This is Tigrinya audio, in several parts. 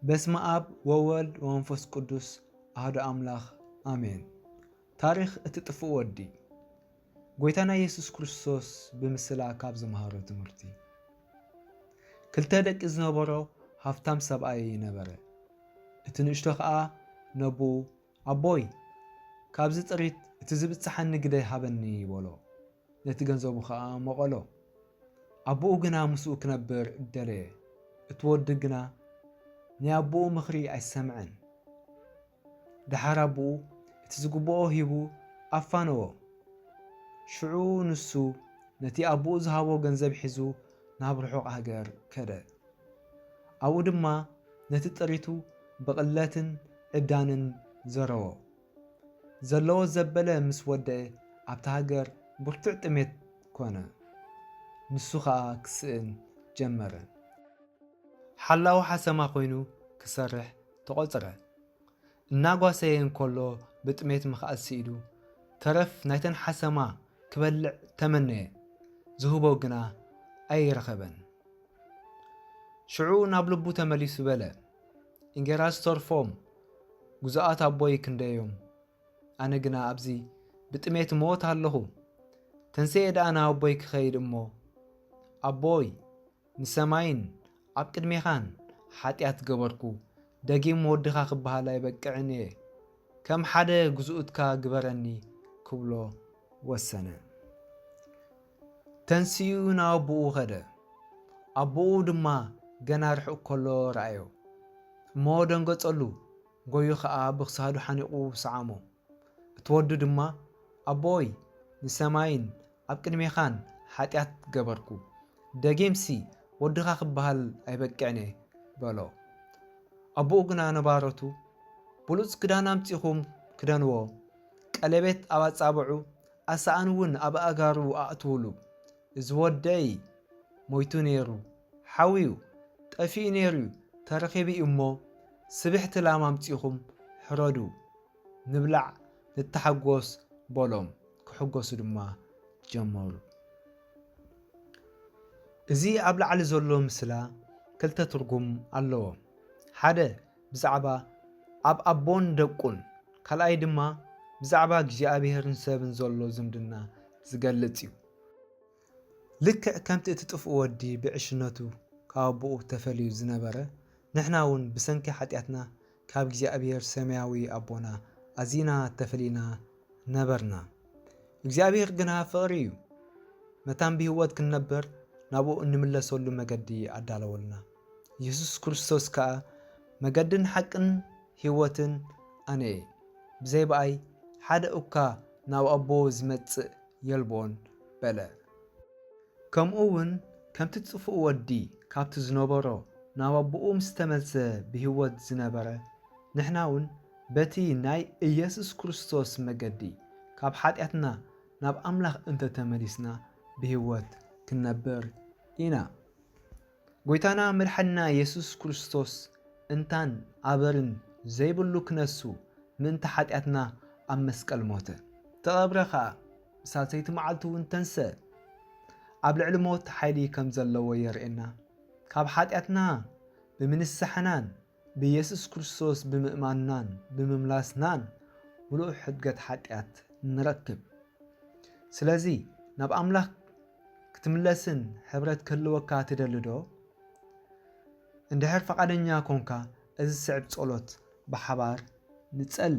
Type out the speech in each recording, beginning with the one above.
በስመ ኣብ ወወልድ ወመንፈስ ቅዱስ ኣህዶ ኣምላኽ ኣሜን። ታሪኽ እቲ ጥፉእ ወዲ ጎይታና ኢየሱስ ክርስቶስ ብምስላ ካብ ዝመሃሮ ትምህርቲ ክልተ ደቂ ዝነበሮ ሃብታም ሰብኣይ ነበረ። እቲ ንእሽቶ ከዓ ነብኡ ኣቦይ፣ ካብዚ ጥሪት እቲ ዚብጽሓኒ ግደ ሃበኒ፣ በሎ። ነቲ ገንዘቡ ኸኣ መቐሎ። ኣቦኡ ግና ምስኡ ኪነብር ደለየ። እቲ ወዲ ግና ናይ ኣቦኡ ምኽሪ ኣይሰምዐን። ደሓር ኣቦኡ እቲ ዚግብኦ ሂቡ ኣፋነዎ። ሽዑ ንሱ ነቲ ኣቦኡ ዝሃቦ ገንዘብ ሒዙ ናብ ርሑቕ ሃገር ከደ። ኣብኡ ድማ ነቲ ጥሪቱ ብቕለትን ዕብዳንን ዘረዎ። ዘለዎ ዘበለ ምስ ወደኤ ኣብታ ሃገር ብርቱዕ ጥሜት ኮነ። ንሱ ኸኣ ክስእን ጀመረ። ሓላዊ ሓሰማ ኮይኑ ክሰርሕ ተቖጽረ። እናጓሰየ እንከሎ ብጥሜት ምኽኣል ስኢኑ ተረፍ ናይተን ሓሰማ ክበልዕ ተመነየ፣ ዝህቦ ግና ኣይረኸበን። ሽዑ ናብ ልቡ ተመሊሱ በለ፣ እንጌራ ዝተርፎም ግዙኣት ኣቦይ ክንደዮም፣ ኣነ ግና ኣብዚ ብጥሜት እመወት ኣለኹ። ተንሴኤ ደኣ ናብ ኣቦይ ክኸይድ እሞ፣ ኣቦይ! ንሰማይን ኣብ ቅድሜኻን ሓጢኣት ገበርኩ፣ ደጊም ወድኻ ክበሃል ኣይበቅዕን እየ፣ ከም ሓደ ግዝኡትካ ግበረኒ ክብሎ ወሰነ። ተንሲኡ ናብ ኣቦኡ ኸደ፣ ኣቦኡ ድማ ገና ርሑቕ ከሎ ረኣዮ እሞ ደንገጸሉ፣ ጎዩ ኸኣ ብክሳዱ ሓኒቑ ሰዓሞ። እቲ ወዱ ድማ፣ ኣቦይ፣ ንሰማይን ኣብ ቅድሜኻን ሓጢኣት ገበርኩ፣ ደጊምሲ ወድኻ ኽበሃል ኣይበቅዕን'የ፣ በሎ። ኣቦኡ ግና ንባሮቱ፣ ብሉጽ ክዳን ኣምጺኹም ክደንዎ፣ ቀሌቤት ኣብ ኣጻብዑ፣ ኣሳእን'ውን ኣብ ኣእጋሩ ኣእትዉሉ፣ እዚ ወደይ ሞይቱ ነይሩ፣ ሓውዩ፣ ጠፊኡ ነይሩ'ዩ፣ ተረኺቡ'ዩ'ሞ፣ ስብሕቲ ላም ኣምጺኹም ሕረዱ፣ ንብላዕ ንተሓጎስ በሎም ክሕጎሱ ድማ ጀመሩ። እዚ ኣብ ላዕሊ ዘሎ ምስላ ክልተ ትርጉም ኣለዎ። ሓደ ብዛዕባ ኣብ ኣቦን ደቁን ካልኣይ ድማ ብዛዕባ እግዚኣብሔርን ሰብን ዘሎ ዝምድና ዝገልጽ እዩ። ልክዕ ከምቲ እቲ ጥፍኡ ወዲ ብዕሽነቱ ካብ ኣቦኡ ተፈልዩ ዝነበረ ንሕና እውን ብሰንኪ ሓጢኣትና ካብ እግዚኣብሔር ሰማያዊ ኣቦና ኣዚና ተፈሊና ነበርና። እግዚኣብሔር ግና ፍቕሪ እዩ። መታን ብህይወት ክንነበር ናብኡ እንምለሰሉ መገዲ ኣዳለወልና። ኢየሱስ ክርስቶስ ከኣ መገድን ሓቅን ህይወትን ኣነ እየ፣ ብዘይ በኣይ ሓደ እኳ ናብ ኣቦ ዝመጽእ የልቦን በለ። ከምኡውን ከምቲ ጽፉእ ወዲ ካብቲ ዝነበሮ ናብ ኣቦኡ ምስ ተመልሰ ብህይወት ዝነበረ፣ ንሕናውን በቲ ናይ ኢየሱስ ክርስቶስ መገዲ ካብ ሓጢኣትና ናብ ኣምላኽ እንተ ተመሊስና ብህይወት ክንነብር ኢና። ጎይታና መድሓኒና የሱስ ክርስቶስ እንታን ኣበርን ዘይብሉ ክነሱ ምእንቲ ሓጢኣትና ኣብ መስቀል ሞተ ተቐብረ ከኣ ብሳልሰይቲ መዓልቲ ውን ተንሰእ ኣብ ልዕሊ ሞት ሓይሊ ከም ዘለዎ የርእየና ካብ ሓጢኣትና ብምንሳሕናን ብየሱስ ክርስቶስ ብምእማንናን ብምምላስናን ምሉእ ሕድገት ሓጢኣት ንረክብ። ስለዚ ናብ ኣምላኽ ክትምለስን ሕብረት ክህልወካ ትደልዶ? እንድሕር ፈቓደኛ ኰንካ እዚ ዝስዕብ ጸሎት ብሓባር ንጸሊ።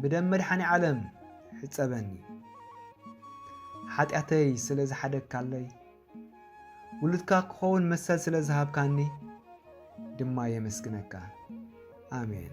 ብደም መድሓኒዓለም ሕፀበኒ ሓጢኣተይ ስለ ዝሓደግካለይ ውሉድካ ክኸውን መሰል ስለ ዝሃብካኒ ድማ የመስግነካ ኣሜን።